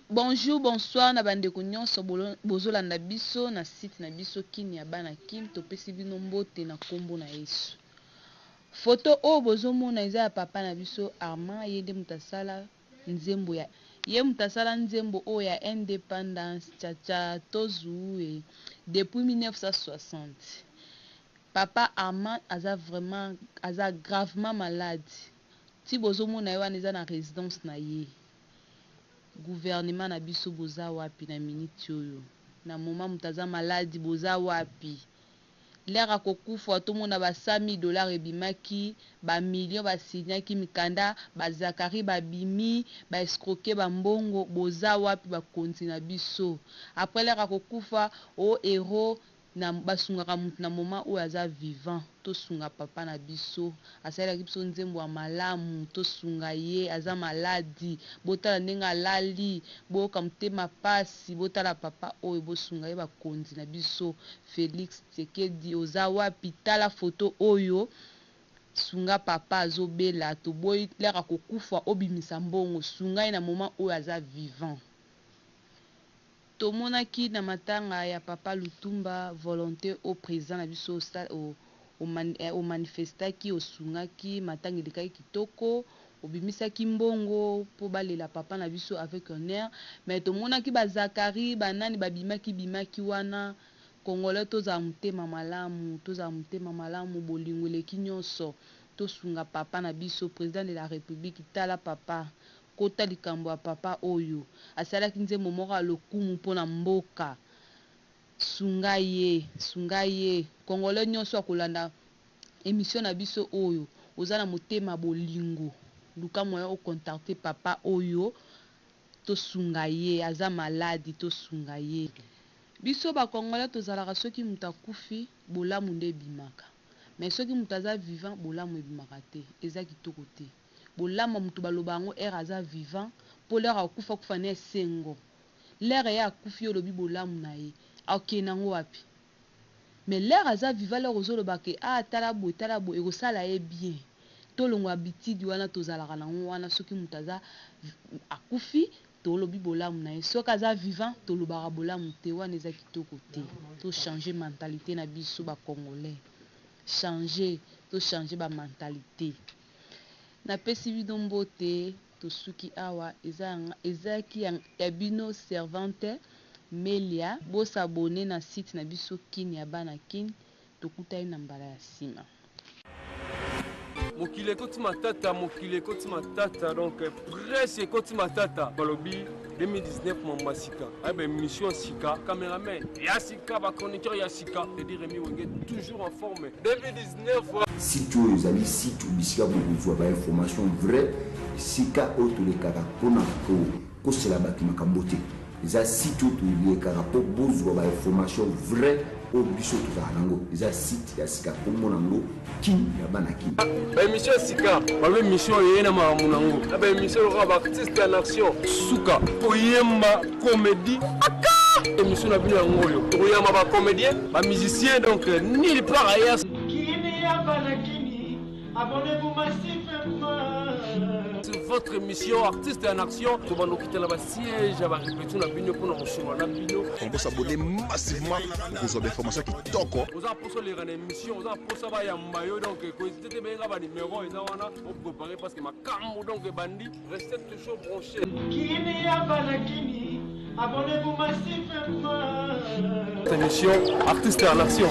Bonjour bonsoir na bandeko nyonso bozolanda biso na site na biso kin ya bana kin topesi bino mbote na nkombo na yesu foto oyo bozomona eza ya papa na biso armand ye nde moto asala Nzembo ya Ye moto asala nzembo oyo ya independance cha cha tozuue depuis 1960 papa Armand aza vraiment aza gravement malade ti bozo mona ye wana eza na residence na ye gouvernement na biso boza wapi na minute oyo na moment moto aza malade boza wapi. leur akokufa tomona ba 100 mille dollars ebimaki ba millions ba signaki mikanda ba Zacharie babimi ba escroquer ba mbongo boza wapi bakonzi na biso après leur akokufa o heros na basungaka mutu na moment oyo aza vivant tosunga papa na biso Asalelaki biso nzembo ya malamu tosunga ye. Aza maladi. Botala ndenge alali. Boyoka motema pasi. Botala papa oyo bosunga ye. Bakonzi na biso Felix Tsekedi oza wapi? Tala photo oyo. Sunga papa azobela. Toboyi l'heure akokufa obimisa mbongo. Sunga ye na moment oyo aza vivant. Tomonaki na matanga ya Papa Lutumba volonte oyo President na biso osali, o manifestaki, osungaki, matanga elekaki kitoko, obimisaki mbongo mpo balela Papa na biso avec honneur, mais tomonaki ba Zacharie, ba nani babimaki bimaki wana, Congolais tozala motema malamu, tozala motema malamu, bolingo eleki nionso, tosunga Papa na biso, President de la Republique, tala Papa, Kota likambo ya papa oyo. Asalaki nzembo moko ya lokumu mpo na mboka. Sunga ye. Sunga ye. Congolais nionso akolanda emission na biso oyo, oza na motema bolingo, luka moyen o contacter papa oyo, tosunga ye. Aza malade, tosunga ye. Biso ba congolais tozalaka soki moto akufi, bolamu nde ebimaka. Mais soki moto aza vivant, bolamu ebimaka te. Eza kitoko te. Bolamu ya mutu baloba yango heure aza vivant po l'heure akokufa akufa na esengo l'heure ye akufi yo olobi bolamu na ye akokende na ngo wapi? Mais l'heure aza vivant l'heure ozo loba que ah tala boye tala boye ekosala ye bien tolongwa habitude wana tozalaka na ngo wana soki mutu aza akufi tolobi bolamu na ye soki aza vivant tolobaka bolamu te wana eza kitoko te to changer mentalite na biso ba congolais changer to changer ba mentalite. Napesi bino mbote tosuki awa eza ya nga ezalaki ya ya bino servante melia bo s'abonner na site na biso kin ya bana kin tokutani na mbala ya sima. Mokili ekoti matata mokili ekoti matata donc presse ekoti matata balobi. 2019 mamba sika ayeba émission ya sika cameraman ya sika bachroniqueur ya sika edi remi wenge toujours en forme 2019 site oyo ezali site bisika bokozwa bainformation vrai esika oyo tolekaka mpona kokosela bato makambo te eza site oyo tolekaka mpo bozwa bainformation vrai Oyo biso tozala nango eza site ya sika kombo nango kin ya bana kin. Ba emission ya sika. Ba emission eye na makambo nango. Na ba emission lokola ba artiste en action. Suka oyemba comedie. Aka emission na bino yango oyo. Tokoyamba ba comedien, ba musicien donc euh, nulle part ailleurs. Kini ya bana kin. Abonnez pour Massif Sur votre émission Artiste en Action, tobando kitala ba siège ya ba répétition na bino pona kosolola na bino. On peut s'abonner massivement okozwa ba information kitoko. Oza poso leka na émission, oza posa ba yamba yo donc koezite te benga ba numéro eza wana o préparer parce que makambo donc ebandi restez toujours branché. Kini ya bana kini abonnez pour Massif Émission Artiste en Action.